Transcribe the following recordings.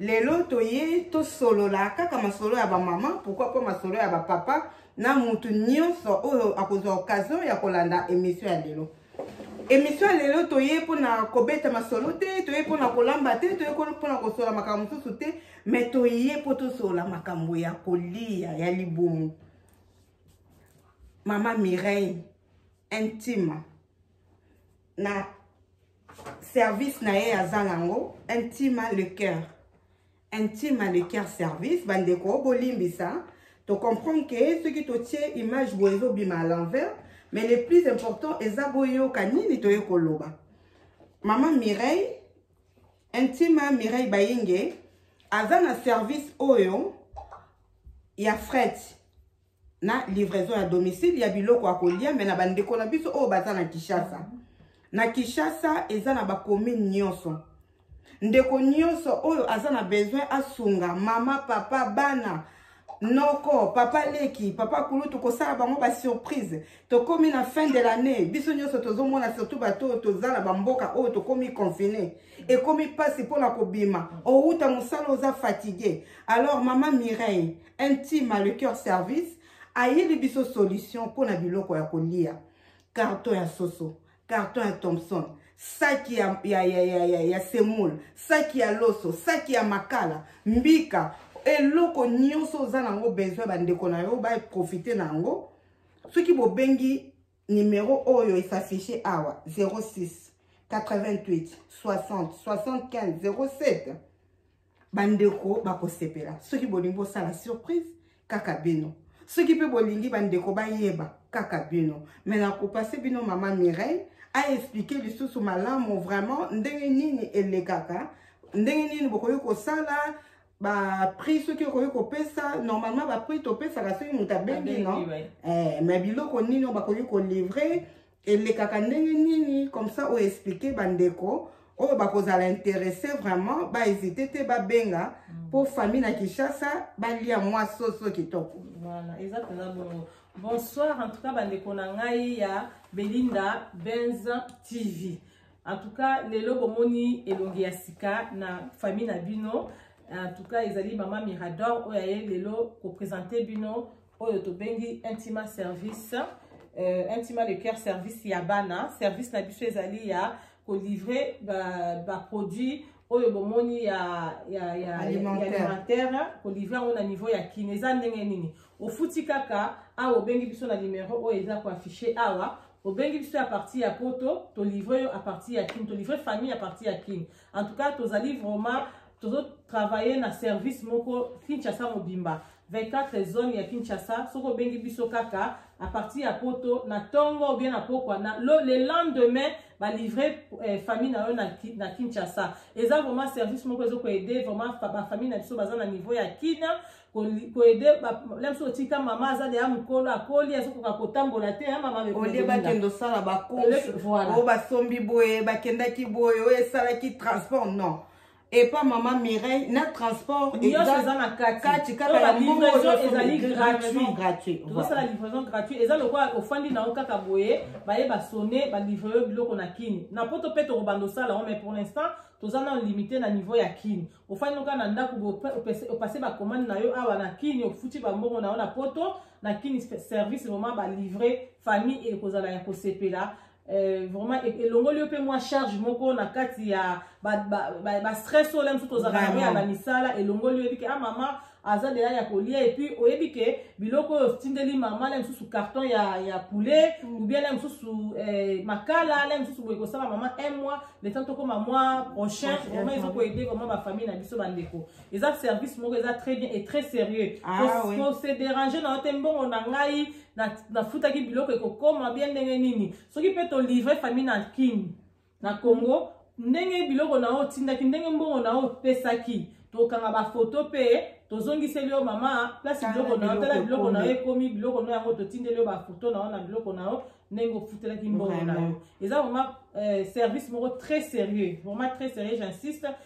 lelo toye tosolola kaka masolo ya bamama pourkui mpo masolo ya bapapa na motu nyonso oyo akozwa occasion ya kolanda emission ya lelo emission ya lelo toye mpona kobeta masolo te toye mpona kolamba te toye mpona kosolola makambo mosusu te me toye mpo tosolola makambo ya kolia ya libumu mama mireille intima na service na ye aza nango intima le cœur intima le cœur service bandeko bolimbisa tocomprendre ke soki totie image boye ezobima à l'envers mais le plus important eza boyoka nini toye koloba mama mireille intima mireille bayinge aza na service oyo ya frete na livraison ya domicile ya biloko ya kolia me na bandeko na biso oyo baza na kinshasa na kinshasa eza na bacommune nyonso ndeko nyonso oyo aza na besoin asunga mama papa bana noko papa leki papa kulutu kosala bango basurprise tokomi na fin de l'année biso nyonso tozomona surtout bato oyo toza na bamboka oyo tokomi confine ekomi mpasi mpona kobima owuta mosala oza fatigue alors mama mireille un team à le cœur service ayeli biso solution mpo na biloko ya kolia carton ya soso carton ya thomson saki ya, ya, ya, ya, ya, ya semoule saki ya loso saki ya makala mbika eloko nyonso oza na yango besoin bandeko na yo baprofite na yango soki bobengi Numero oyo e s'affiche awa 06 88 60 75 07 bandeko bakosepela soki bolingi bosala surprise kaka bino soki mpe bolingi bandeko bayeba kaka bino me nakopase bino mama mireille aexplike lisusu malamu vraiment ndenge nini elekaka ndenge nini bokoki kosala ba prix soki okoki kopesa normalement ba prix topesaka soki moto abengi no eh, mais biloko nini oyo bakoki kolivre elekaka ndenge nini comme ça oyo explike bandeko oyo bakozala interesse vraiment bahésite te babenga mpo mm. famille na kinshasa balia mwa soso kitoko voilà, eza mpenza bongo bonsoir en tout cas bandeko na ngai ya belinda benz tv En tout cas, lelo bomoni elongi ya sika na famille na bino. En tout cas, ezali maman Mirador oyo aye lelo ko présenter bino oyo tobengi intima service. Euh, intima le cœur service ya bana. Service na biso ezali ya ko livrer ba, ba produits oyo bomoni ya ya ya alimentaire ko livrer yango na niveau ya Kin. Eza ndenge nini? Ofuti kaka awa obengi biso na numero oyo eza ko afficher awa obengi biso ya parti ya poto tolivre yo apartir ya kin tolivre famille ya parti ya kin en tout cas tozali vraiment tozotravaille na service moko kinshasa mobimba 24 zone ya kinshasa soki obengi biso kaka apartir ya poto na ntongo obie na pokwa na lo, le lendemain balivre eh, famille na yo na, na kinshasa eza vraiment service moko ezokoede vraiment bafamille na biso baza na niveau ya kina koede na biso otika mama aza deya mokolo akoli azokoka kotambola te ya mama olie bakende osala bacourseoyo basombi boye bakendaki boye oyo esalaki transport non epa mama mireille na transport kati kaka ya mbongoezalisala livraison gratuit eza lokola ofandi na yo kaka boye baye basone balivre yo biloko na kini na poto mpe tokobanda osala yango mais pour l'instant toza na limite na niveau ya kini ofandi oka na ndako opase bakomande na yo awa na kini ofuti bambongo na yo na poto na kini service vraiment balivre famille ekozala ya kosepela Euh, vraiment e-, elongoli yo mpe mwa charge moko na kati ya bastress oyo la mosusu tozalaka yango ya na misala elongoli yo ebike a ah, mama aza deja ya kolia epuis oyebi ke biloko oyo otindeli mama na mosusu carton ya, ya poulet mm. oubien na mosusu eh, makala na mosusu boye kosala mama un mois le temps tokoma mois prochain vraiment ezo koede vraiment bafamille na biso bandeko eza service moko eza très bien et très sérieux ah, oui. se déranger na yo te mbongo na ngai nafutaki biloko ekokoma bien ndenge nini soki mpe tolivre famille na kini na congo ndenge biloko na yo otindaki ndenge mbongo na yo opesaki tokanga bafoto mpe tozongiseli yo mama place biloko na yo tala biloko na yo ekomi biloko na yango totindeli yo bafoto na yo na biloko na yo ndenge ofutelaki mbongo na yo eza vraiment euh, service moko très sérieux vraiment très sérieux j'insiste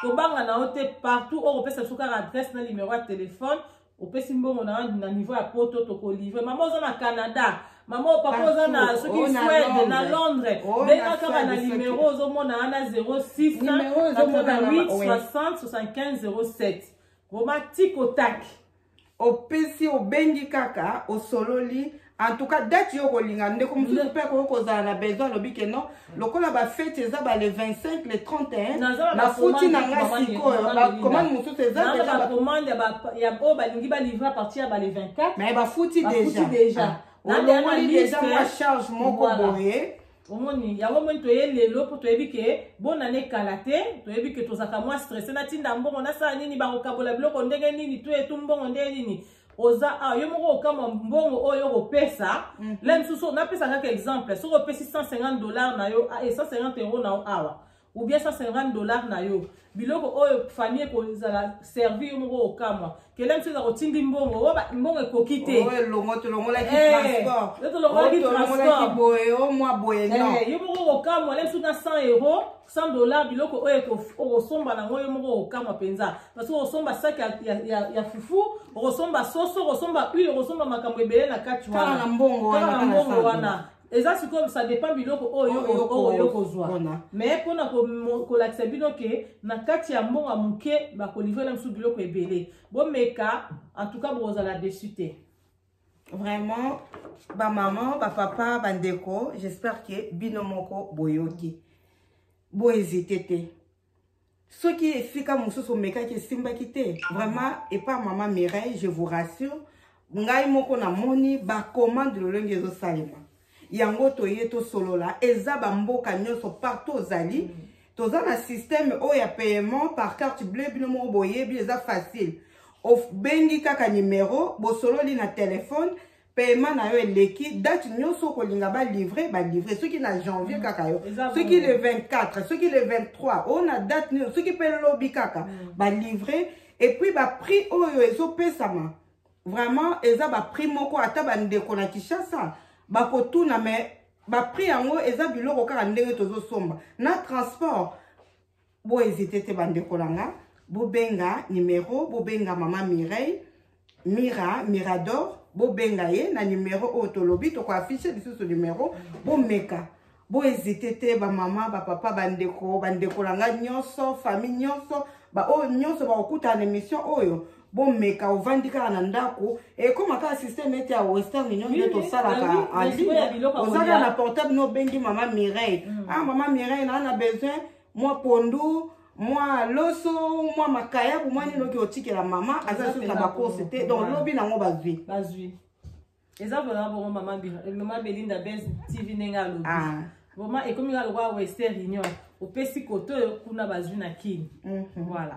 kobanga na yo te partout oyo kopesa biso kaka adresse na numero ya telefone opesi mbongo na na niveau ya poto tokolivre mama oza na canada mama oyo papa oza na soki oh, swede na londres oh, benga kaka na numero ozomona wana 06 88 60 75 07 vraimen tikotaki opesi obengi kaka osololi en tout cas date yo okolinga ndeko mosusu mpe akoki kozala na besoin alobi ke non lokola bafete eza ba le 25 le 31 nafuti na nga sikoyo bacommande mosusu ezabacommande oyo balingi balivre apartir ya ba le 24 mais bafuti déjà ah. olongoli déjà mwa charge moko boye omoni yango moni toye lelo mpo toyebi ke bona ne kala te toyebi ke tozalaka mwa stresse natinda mbongo nasala nini bakokabola biloko ndenge nini to etu mbongo ndenge nini oza awa ah, yo moko okamwa mbongo oyo okopesa mhm. la mosusu napesa kaka exemple soki opesi 150 dollar na yo 150 ah, euro na yo awa ou bien 150 dollars na yo biloko oyo famille ekozala servir yo moko okamwa kelem soki akotindi mbongo oyo mbongo ekoki te elongo tolongolaki eh, transport yo tolongolaki oh, transport boye o oh, mwa boye eh, non yo moko okamwa lem soki na 100 euros 100 dollars biloko oyo okosomba nango yo moko okamwa mpenza parce okosomba saki ya, ya, ya, ya fufu okosomba soso okosomba huile okosomba makambo ebele na kati wana na mbongo wana eza sikoyo ça dépend biloko oyo oyo kozwa mais mpona kolakisa bino ke na kati ya mbongo ya moke bakolivre na mosusu biloko ebele bomeka en tout cas bokozala desu te vraiment bamama bapapa bandeko j'espère ke bino moko boyoki bohésite te soki esika mosusu omekaki esimbaki te vraiment epa mama mireille je vous rassure ngai moko namoni bacommande lolenge ezosalema yango toye tosolola eza bamboka nyonso partout ozali mm. toza na système oyo ya paiement par carte bleu bino moko boyebi eza facile obengi kaka numero bosololi na telefone paiement na yo eleki date nyonso okolinga balivre balivre soki na janvier kaka yo soki le 24 soki le 23 oyo na date nini soki mpe lobi kaka mm. balivre epuis baprix oyo ezopesama vraiment eza baprix moko ata bandeko na kinshasa bakotuna me baprix yango eza biloko kaka ndenge tozosomba na transport Bo hésiter te ba ndeko na nga. Bo benga numéro, bo benga maman Mireille, Mira, Mirador, bo benga ye na numéro oyo tolobi toko afficher lisusu numéro, bo meka. Bo hésiter te ba maman, ba papa, ba ndeko, ba ndeko na nga nyonso, famille nyonso, ba oyo nyonso ba okuta na émission oyo. bomeka ovandi kaka na ndako ekoma kaka systeme ete ya western union nde tosalaka en ligne oza kaka na portable no obengi mama mireille ah mama mireille naa na besoin mwa pondu mwa loso mwa makayabu mwa nini oki otikela mama aza lisusu na bacourse te donc lobi nango bazwi bazwi eza vraimen bongo mama eh, belinda bes tv ndenge alobi ah. vraimen ekomi kaka lokola wester union opesi kote oyo kuna bazwi na kini mhm. voilà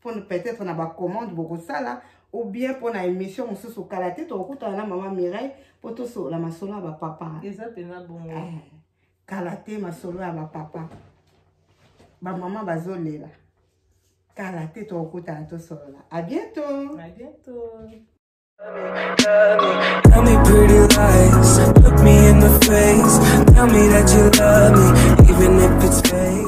pona peut-être na ba commande bokosala ou bien pona émission mosusu kala te tokokutana na mama mireille mpo tosolola masolo ya bapapa eza mpenza bongo eh, kala te masolo ya bapapa bamama bazolela kala te tokokutana tosolola a bientôt a bientôt Tell me pretty lies, look me in the face. Tell me that you love me, even if it's fake.